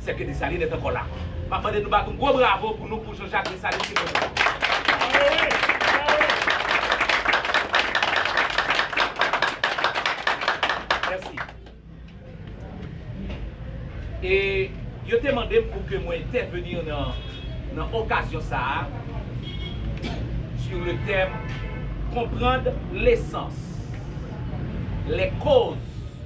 Sèke Dessalines est encore là. Map mande nou bat yon gwo bravo pou nou pou Jean Jacques Dessalines ki toujou la. Bravo wi! Bravo wi! Mèsi. E yo te mande m pou ke mwen entèvenir nan okazyon sa a sur le thème Comprendre l'essence, les causes,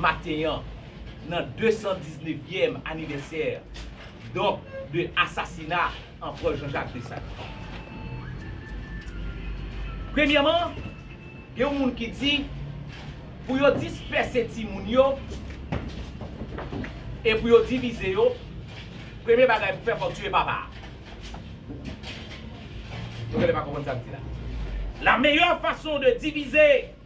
maten an nan 219 yèm anivèsè donk de asasina Anprè Jean Jacques Dessalines. Premyèman, gen yon moun ki di pou yo dispèse timoun yo e pou yo divize yo, premye bagay pou fè fòk tiye papa a. Mwen genlè pa konprann sa m di la. La meyè fason de divize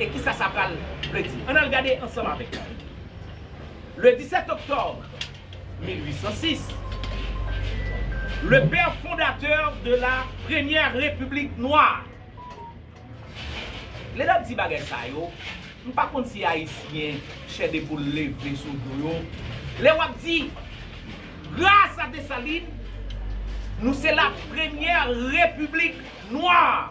E ki sa sa pral vle di? Ann al gade ansanm avèk mwen. Le 17 octobre 1806, le père fondateur de la première République noire. Lè n ap di bagay sa yo, m pa konn si Ayisyen chè de poul leve sou do yo. Lè w ap di, Gras a Dessalines, nou se la premyè Repiblik Nwa!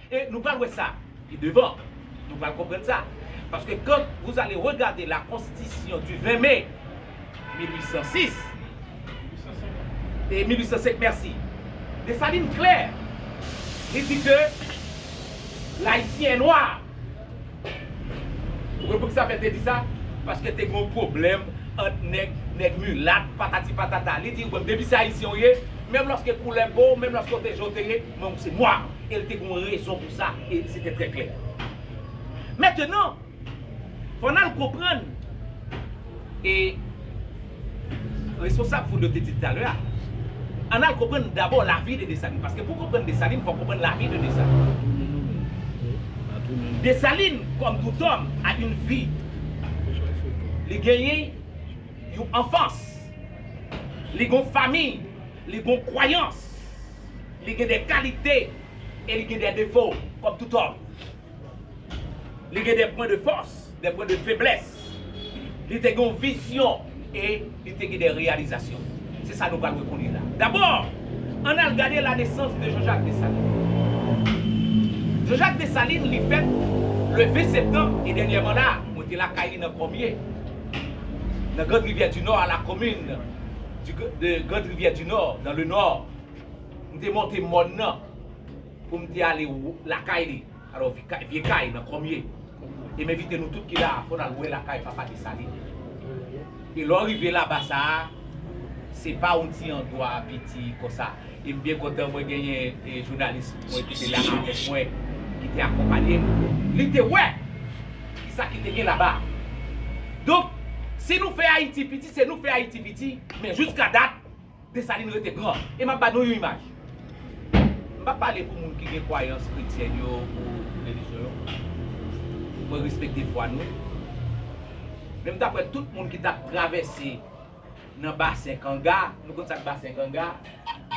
E nou pral wè sa pi devan. Nou pral konprann sa. Paske kan vous allez regarder la Constitution du 20 mai 1806, 1805 mèsi, Dessalines klè, li di ke L'Haïtien est noir. Ou konprann pou ki sa Pèl te di sa? Paske te gen yon pwoblèm ant nèg, nèg milat, patati patata. Li di, ou menm, depi se Ayisyen ou ye, menm lòske koulè po w, menm lòske ou te je w te ye, Nonm se nwa, e l te gen yon rezon pou sa, e se te trè klè. Mentenan, fò n al konprann, e responsab foul yo te di l talè a, ann al konprann dabò lavi de Desalin. Paske pou w konprann Desalin, fò w konprann lavi de Desalin. Desalin, kòm tout òm, a yn vi. Li genyen yon anfans. Li gen yon famiy. Li gen yon kwayans. Li gen de kalite e li gen de defo kòm tout òm. Li gen de pwen de fòs, de pwen de feblès. Li te gen yon vizyon e li te gen de reyalizasyon. Se sa nou pral wè kounye la. Dabò, ann al gade la nesans de Jean-Jacques Dessalines. Jean-Jacques Dessalines li fèt le 20 septanm e dènyèman la a, mwen te lakay li nan Kòmye, nan Grande Rivière du Nord, à la commune de Grande Rivière du Nord, dans le Nord. M te monte mòn nan pou m te ale lakay li, alò vye kay nan Kòmye. E m envite nou tout ki la a pou n al wè lakay papa Desalin. E lè w rive laba sa a, se pa yon ti andwa piti konsa. E m byen kontan mwen genyen jounalis mwen ki te la avèk mwen, ki te akonpanye m. Li te wè ki sa ki te gen laba a. Donk, si nou fè Ayiti piti, se nou fè Ayiti piti, men jouska dat, Desalin rete gran. E m ap ba nou yon imaj. M pa pale pou moun ki gen kwayans kretyen yo ou relijyon yo. Mwen respekte fwa nou. Men m ta kwè tout moun ki t ap travèse nan basen kanga, nou konn sa k basen kanga,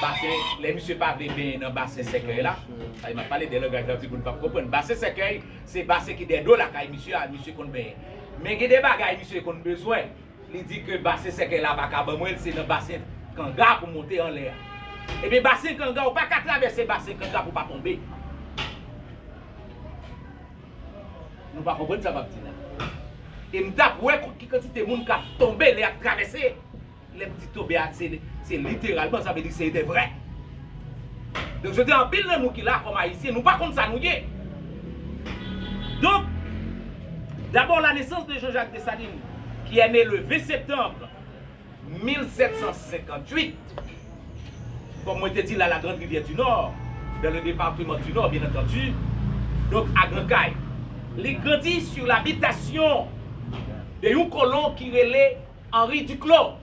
basen lè misye pa vle benyen nan basen sèkèy la, sa vle m ap pale de langaj nan timoun pa p konprann. Basen sèkèy se basen ki dèyè do lakay misye a misye konn benyen. Men gen de bagay misye konn bezwen. Li di ke basen sèkèy la pa ka ban mwen l, se nan basen kanga pou m monte anlè a. Ebyen basen kanga, ou pa ka travèse basen kanga pou w pa tonbe. Nou pa konprann sa m ap di la. E m t ap wè ki kantite moun k ap tonbe lè y ap travèse. Lè m di tonbe a, se literalman, sa vle di se de vrè. Donk jodi a anpil nan nou ki la kòm ayisyen nou pa konn sa nou ye. Donk D'abord la naissance de Jean-Jacques Dessalines qui est né le 20 septembre 1758 Kòm mwen te di l a la grande rivière du Nord, dans le département du Nord bien entendu, donk a Gran Kay. Li grandi sur l'habitation de yon kolon ki rele Henri Duclos.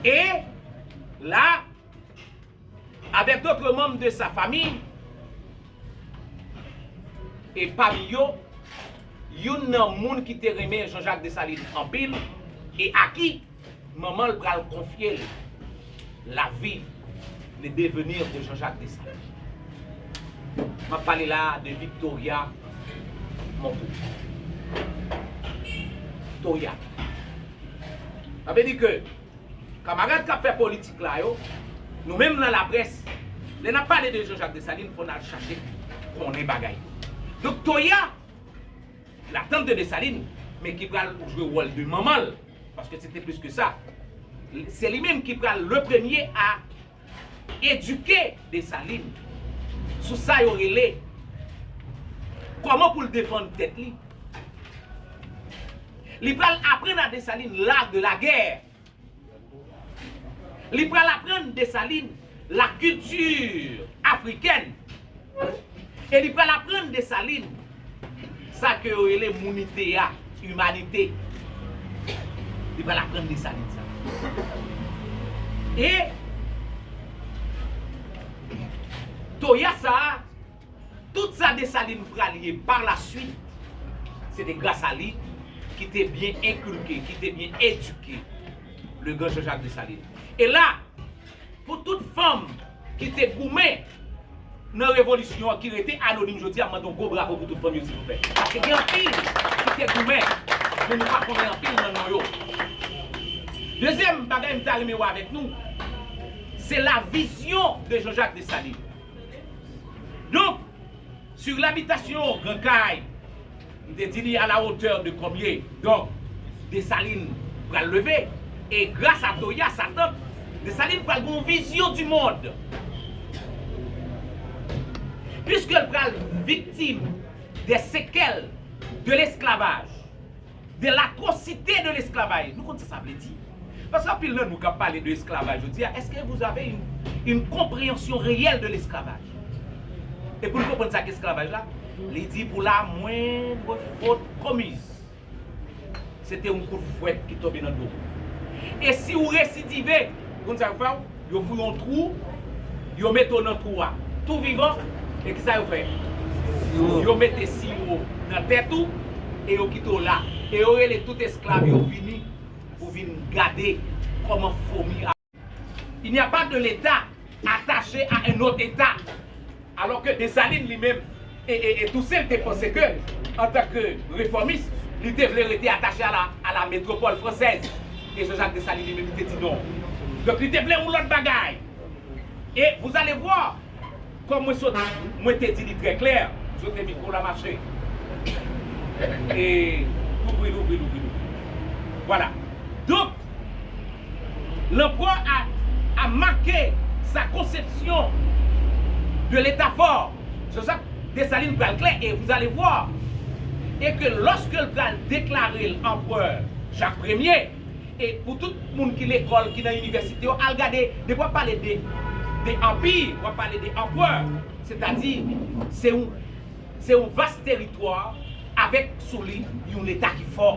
E la, avèk dotre manm de sa fami, e pami yo, youn nan moun ki te renmen Jean-Jacques Dessalines anpil, e a ki manman l pral konfye l. La vie, le devenir de Jean-Jacques Dessalines. M ap pale la a de Victoria Monteau. Victoria. Sa vle di ke kamarad k ap fè politik la yo, nou menm nan laprès, lè n ap pale de Jean-Jacques Dessalines, fò n al chache konnen bagay yo. Victoria La tante de Dessalines men ki pral jwe wòl de manman l paske se te plis ke sa. Se li menm ki pral le premye a edike Dessalines sou sa yo rele kòman pou l defann tèt li. Li pral aprann a Dessalines l'art de la guerre. Li pral aprann Dessalines la culture africaine e li pral aprann Dessalines sa ke yo rele mounite a, humanite. Li pral aprann Dessalines sa. E toya sa a. Tout sa Dessalines pral ye par la suite, se te gras a li ki te byen enkulke, ki te byen edike le gran Jean-Jacques Dessalines. E la, pou tout fanm ki te goumen nan revolisyon an ki rete anonim jodi a, m mande yon gwo bravo pou tout fanm yo silvouplè. Paske gen anpil ki te goumen, men nou pa konnen anpil nan non yo. Dezyèm bagay m ta renmen wè avèk nou, se la vizyon de Jean-Jacques Dessalines. Donk, sur l'habitation Gran Kay, m te di li a la hauteur de konbye? Donk, Desalin pral leve e gras a Toya, sa tant, Desalin pral gen yon vizyon di mond. Piske l pral viktim de sekèl de lesklavaj, de l'atrocite de l'esclavage. Nou konn sa sa vle di? Paske anpil nan nou kap pale de esklavaj jodi a, est ce que vous avez une comprehension reyèl de l'esclavage? E pou nou konprann sa ki esklavaj la, li di pou la moindre faute commise, se te yon kout fwèt ki tonbe nan do ou. E si ou residive, ou konn sa yo fè ou? Yo fouye yon twou, yo mete w nan twou a tou vivan, e kisa yo fè? Yo mete siwo nan tèt ou e yo kite w la, e yo rele tout esklav yo vini pou vin gade kòman fomi ap. Il n'y a pas de l'Etat attache à un autre Etat. Alò ke Desalin li menm e Tousen te panse ke, antan ke refòmis, li te vle rete atache a la a la metropole française, e Jean-Jacques Dessalines li menm li te di non. Donk li te vle yon lòt bagay. E vous allez voir, kòm mwen sot mwen te di li trè klè, jotre mikwo la ma chè. E louvri, louvri, louvri, louvri. Vwala. Donk. Lanpwa a a make sa konsepsyon de leta fò Jean-Jacques Dessalines pral klè e vous allez voir e ke lòske l pral deklare l anprè Jacques Premye e pou tout moun ki lekòl ki nan inivèsite yo al gade depi w ap pale de de anpi w ap pale de anprè setadi se yon se yon vas teritwa avèk sou li yon leta ki fò.